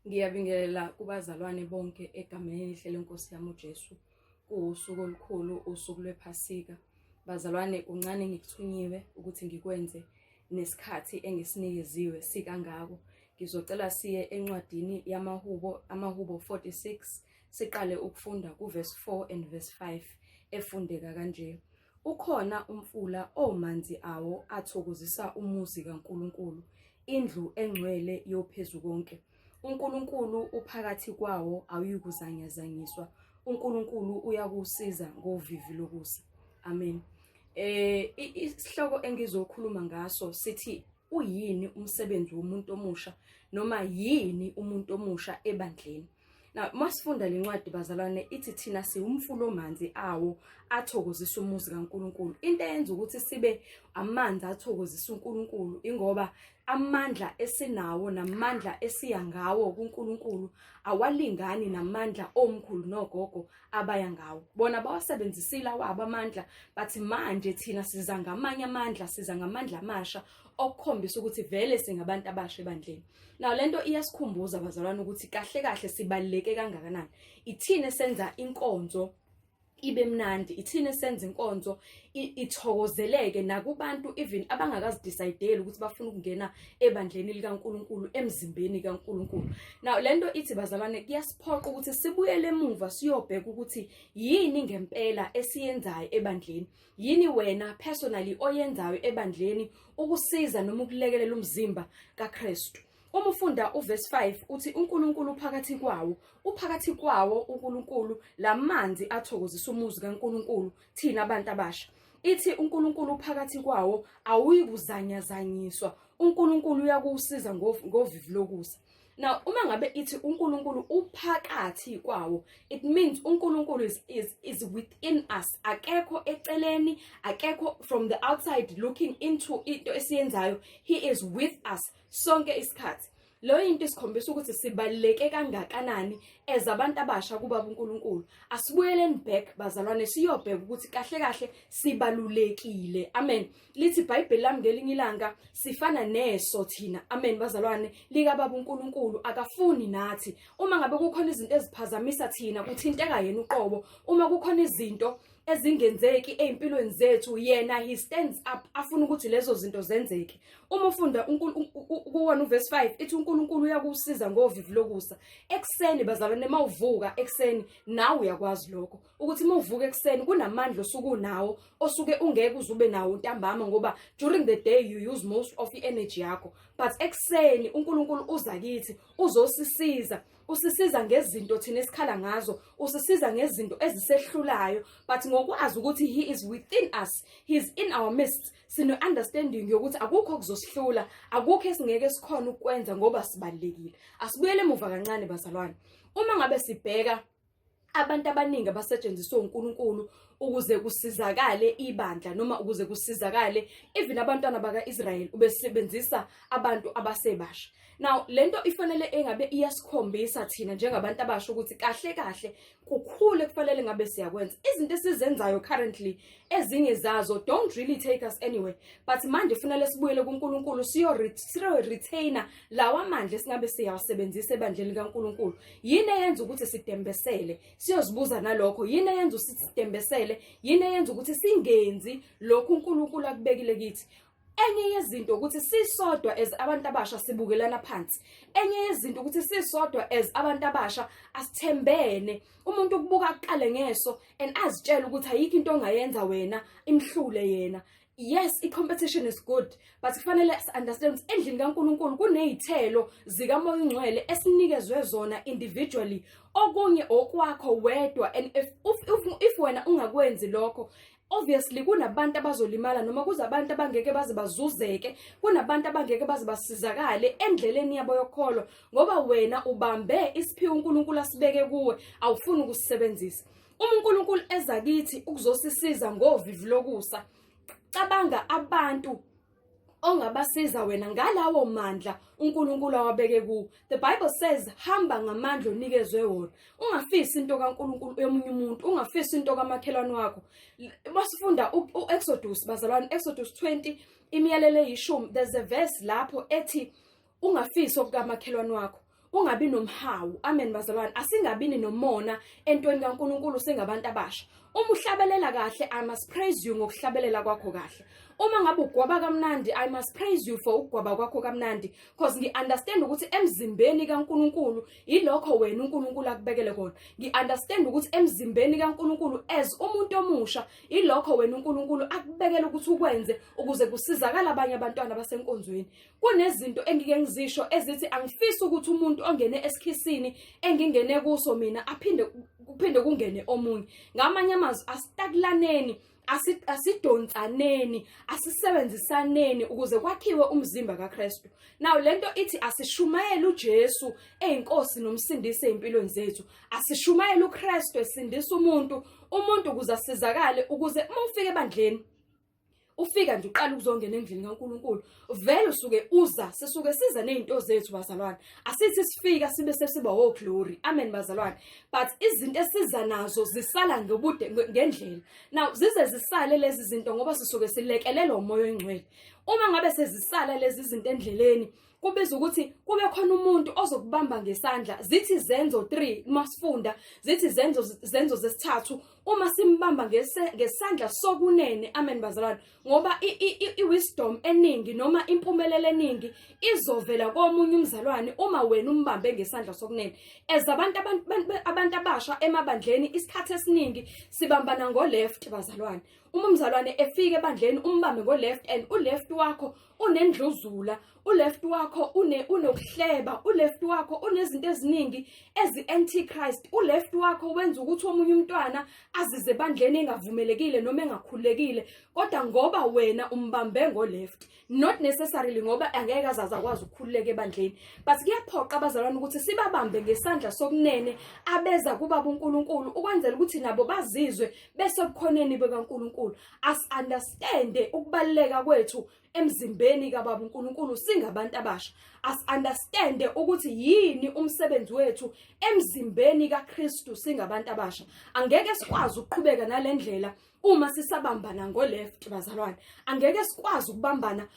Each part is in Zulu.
Ngiyabingelela kubazalwane bonke egameni elihle lenkosi yami uJesu. Kuwusuku olukhulu, usuku lwePhasika. Bazalwane, kuncane ngikuthunyiwe ukuthi ngikwenze nesikhathi engisinikeziwe sikangako. Ngizocela siye encwadini yamaHubo, amaHubo 46, siqale ukufunda kuverse 4 and verse 5 efundeka kanje. Ukhona umfula omanzi awo athokozisa umuzi kaNkulunkulu, indlu engcwele yoPhezukonke. UNkulunkulu uphakathi kwawo awuyikuzanyazanyiswa. UNkulunkulu uyakusiza ngovivi lokusa. Amen. Eh isihloko engizokhuluma ngaso sithi uyini umsebenzi womuntu omusha noma yini umuntu omusha ebandleni na masifunda le ncwadi bazalwane ithi thina siwumfula omanzi awo athokozisa umuzi kaNkuluNkulu into eyenza ukuthi sibe amanzi athokozisa uNkuluNkulu ingoba amandla esinawo namandla esiya ngawo kuNkuluNkulu awalingani namandla omkhulu nogogo abaya ngawo bona bawasebenzisile awabo amandla bathi manje thina siza ngamanye amandla siza ngamandla amasha okukhombisa ukuthi vele singabantu abasha ebandleni nawo lento iyasikhumbuza bazalwane ukuthi kahle kahle sibaluleke kangakanani ithini senza inkonzo ibe mnandi ithini senza inkonzo ithokozeleke nakubantu even abangakazidecide ukuthi bafuna ukungena ebandleni likaNkuluNkulu emzimbeni kaNkuluNkulu now lento ithi bazalwane kuyasiphoqa ukuthi sibuyele emuva siyobheka ukuthi yini ngempela esiyenzayo ebandleni yini wena personally oyenzayo ebandleni ukusiza noma ukulekelela umzimba kaKristu uma ufunda uverse 5 uthi uNkulunkulu phakathi kwawo uphakathi kwawo uNkulunkulu lamanzi athokozisa umuzi kaNkulunkulu thina abantu abasha ithi uNkulunkulu uphakathi kwawo awuyi kuzanyazanyiswa uNkulunkulu uyakusiza ngovivi lokusa now uma ngabe ithi uNkulunkulu uphakathi kwawo it means uNkulunkulu is, is is within us akekho eceleni akekho from the outside looking into into esiyenzayo he is with us sonke isikhathi Leyo into isikhombisa ukuthi sibaluleke kangakanani as abantu abasha kuBaba uNkulunkulu. Asibuyeleni back bazalwane siyobheka ukuthi kahle kahle sibalulekile. Amen. Lithi iBhayibheli lami ngelinye ilanga sifana neso thina. Amen bazalwane lika Baba uNkulunkulu akafuni nathi. Uma ngabe kukhona izinto eziphazamisa thina kuthinteka yena uqobo. Uma kukhona izinto ezingenzeki ezimpilweni zethu yena he stands up afuna ukuthi lezo zinto zenzeke uma ufunda kuwona uverse 5 ithi uNkulunkulu uyakusiza ngovivi lokusa ekseni bazalwane uma uvuka ekseni nawe uyakwazi lokho ukuthi uma uvuka ekseni kunamandla osuku nawo osuke ungeke uzube nawo ntambama ngoba during the day you use most of the energy yakho but ekseni uNkulunkulu uza kithi uzosisiza usisiza ngezinto thina esikhala ngazo usisiza ngezinto ezisehlulayo but ngokwazi ukuthi he is within us he is in our midst sino understanding yokuthi akukho kuzosihlula akukho esingeke sikhona ukwenza ngoba sibalekile asibuyele emuva kancane bazalwane uma ngabe sibheka abantu abaningi abasetshenziswa uNkulunkulu ukuze kusizakale ibandla noma ukuze kusizakale even abantwana baka-Israyeli ubesebenzisa abantu abasebasha now lento ifanele engabe iyasikhombisa thina njengabantu abasha ukuthi kahle kahle kukhulu ekufanele ngabe siyakwenza izinto esizenzayo currently ezinye zazo don't really take us anywhere but manje kufanele sibuyele kuNkulunkulu siyo retainer lawa mandla esingabe siyawasebenzisa ebandleni likaNkulunkulu yini eyenza ukuthi sidembesele siyozibuza nalokho yini eyenza ukuthi sidembesele yini eyenza ukuthi singenzi lokhu uNkulunkulu akubekile kithi enye yezinto ukuthi sisodwa as abantu abasha sibukelana phansi enye yezinto ukuthi sisodwa as abantu abasha asithembene umuntu ukubuka kuqale ngeso and azitshela ukuthi ayikho into ongayenza wena imhlule yena yes i-competition is good but kufanele understand ukuthi endlini kaNkuluNkulu kunezithelo zikamoya ongcwele esinikezwe zona individually okunye okwakho wedwa and if if, if wena ungakwenzi lokho obviously kunabantu abazolimala noma kuze abantu abangeke baze bazuzeke kunabantu abangeke baze basizakale endleleni yabo yokholwa ngoba wena ubambe isiphiwo uNkulunkulu asibeke kuwe awufuni ukusisebenzisa uma uNkulunkulu eza kithi ukuzosisiza ngovivi lokusa cabanga abantu ongabasiza wena ngalawo mandla uNkulunkulu awabeke kuwo the bible says hamba ngamandla onikezwe wona ungafisi into kaNkulunkulu emunye umuntu ungafisi into kamakhelwane wakho basifunda uExodus bazalwane Exodus 20 imiyalelo eyishumi there's a verse lapho ethi ungafisi okukamakhelwane wakho ungabi nomhawu amen bazalwane asingabini nomona entweni kaNkuluNkulu singabantu abasha uma uhlabelela kahle i must praise you ngokuhlabelela kwakho kahle uma ngabe ugwaba kamnandi i must praise you for ukugwaba kwakho kamnandi because ngi understand ukuthi emzimbeni kaNkuluNkulu yilokho wena uNkuluNkulu akubekele kona ngi understand ukuthi emzimbeni kaNkuluNkulu as umuntu omusha yilokho wena uNkuluNkulu akubekele ukuthi ukwenze ukuze kusizakala abanye abantwana basenkonzweni kunezinto engike ngizisho ezithi angifisi ukuthi umuntu ongene esikhisini engingene kuso mina aphinde kuphinde kungene omunye ngamanye amazwi asitakulaneni asidonsaneni asisebenzisaneni ukuze kwakhiwe umzimba kaKristu now lento ithi asishumayele uJesu eyinkosi nomsindisi ezimpilweni zethu asishumayele uKristu esindisa umuntu umuntu ukuze asizakale ukuze uma ufike ebandleni ufika nje uqala ukuzongena endlini kaNkuluNkulu vele usuke uza sisuke siza nezinto zethu bazalwane asithi sifika sibe sesiba wo oh, glory amen bazalwane but izinto esiza nazo zisala ngobude ngendlela now zize zisale lezi zinto ngoba sisuke silekelelwa umoya oyingcwele uma ngabe sezisala lezi zinto endleleni kubiza ukuthi kube khona umuntu ozokubamba ngesandla zithi zenzo 3 uma sifunda zithi zenzo zenzo zesithathu uma simbamba ngesandla sokunene amen bazalwane ngoba i-wisdom eningi noma impumelelo eningi izovela komunye umzalwane uma wena umbambe ngesandla sokunene as abantu abantu abasha emabandleni isikhathi esiningi sibambana ngo-left bazalwane uma umzalwane efika ebandleni umbambe ngo-left and u-left wakho unendluzula uleft wakho une unokuhleba uleft wakho unezinto eziningi ezi antichrist uleft wakho wenza ukuthi omunye umntwana azize bandleni engavumelekile noma engakhulekile kodwa ngoba wena umbambe ngo left not necessarily ngoba angeke azaza kwazi ukukhululeka ebandleni but kuyaphoqa abazalwane ukuthi sibabambe ngesandla sokunene abeza kuba uNkulunkulu ukwenzela ukuthi nabo bazizwe besokukhoneni bekaNkulunkulu asi-understande ukubaluleka kwethu emzimbeni kababa uNkulunkulu singabantu abasha asi-understande ukuthi yini umsebenzi wethu emzimbeni kaKristu singabantu abasha angeke sikwazi ukuqhubeka nalendlela uma sisabambana ngoleft bazalwane angeke sikwazi ukubambana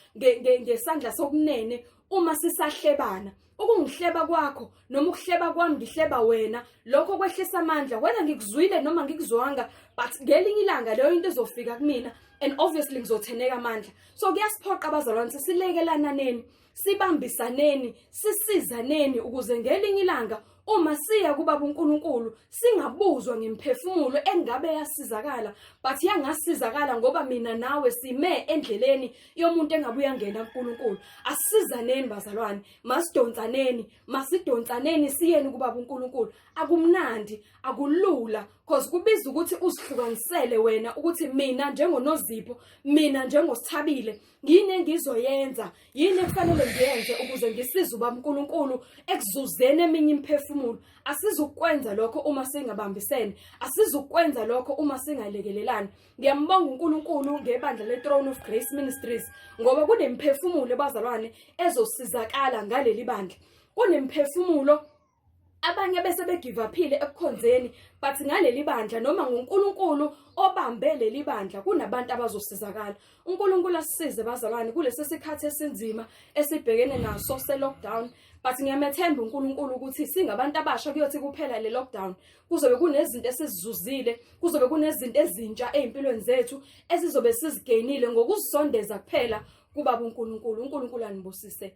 ngesandla sokunene uma sisahlebana ukungihleba kwakho noma ukuhleba kwami ngihleba wena lokho kwehlisa amandla wena ngikuzwile noma ngikuzwanga but ngelinye ilanga leyo into izofika kumina and obviously ngizotheneka amandla so kuyasiphoqa abazalwane silekelananeni sibambisaneni sisizaneni ukuze ngelinye ilanga Uma siya kuBaba uNkulunkulu singabuzwa ngemphefumulo engabe yasizakala but yangasizakala ngoba mina nawe sime endleleni yomuntu engabe uyangena kuNkulunkulu asizaneni bazalwane masidonsaneni masidonsaneni siyeni kuBaba uNkulunkulu akumnandi akulula cause kubiza ukuthi uzihlukanisele wena ukuthi mina njengonozipho mina njengosithabile yini engizoyenza yini ekufanele ngiyenze ukuze ngisize uba mnkulunkulu ekuzuzeni eminye imiphefumulo asizukwenza lokho uma singabambisene asizukwenza lokho uma singalekelelani ngiyambonga unkulunkulu ngebandla le-throne of grace ministries ngoba kunemiphefumulo ebazalwane ezosizakala ngaleli bandla kunemiphefumulo abanye bese begivaphile ekukhonzeni but ngaleli bandla noma nguNkulunkulu obambe leli bandla kunabantu abazosizakala uNkulunkulu asisize bazalwane kulesi sikhathi esinzima esibhekene naso se-lockdown but ngiyamethemba uNkulunkulu ukuthi singabantu abasha kuyothi kuphela le lockdown kuzobe kunezinto esizizuzile kuzobe kunezinto ezintsha ezimpilweni zethu esizobe sizigainile ngokuzisondeza kuphela kuba uNkulunkulu uNkulunkulu anibusise